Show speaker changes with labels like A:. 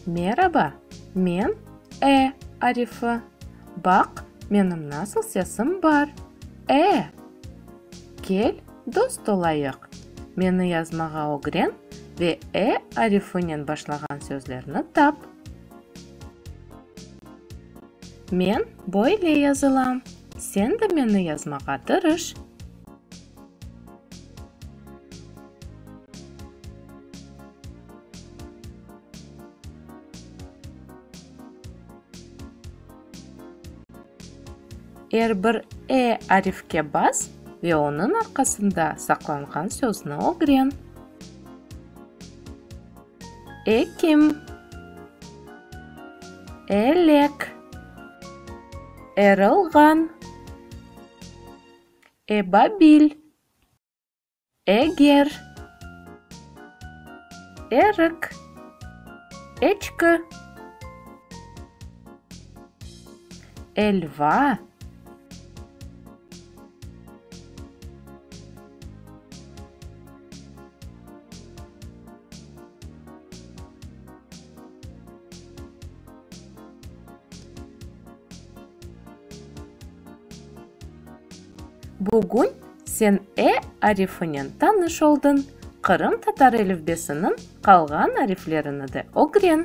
A: Meraba, men e arifi. Baq, menim nasıl sesim bar, e! Kel, dost olayıq. Meni yazmağa ögren ve e arifinen başlağan sözlerni tap. Men böyle yazılam. Sen de meni yazmağa tırış. Er bir e arifke bas ve onıñ arqasında saqlanğan sözni ögren. Ekim, elek, erılğan, ebabil, eger, erik, eçki, elva. Bugün sen e arifinen tanış oldıñ, Qırım tatar elifbesiniñ qalğan ariflerini de ögren.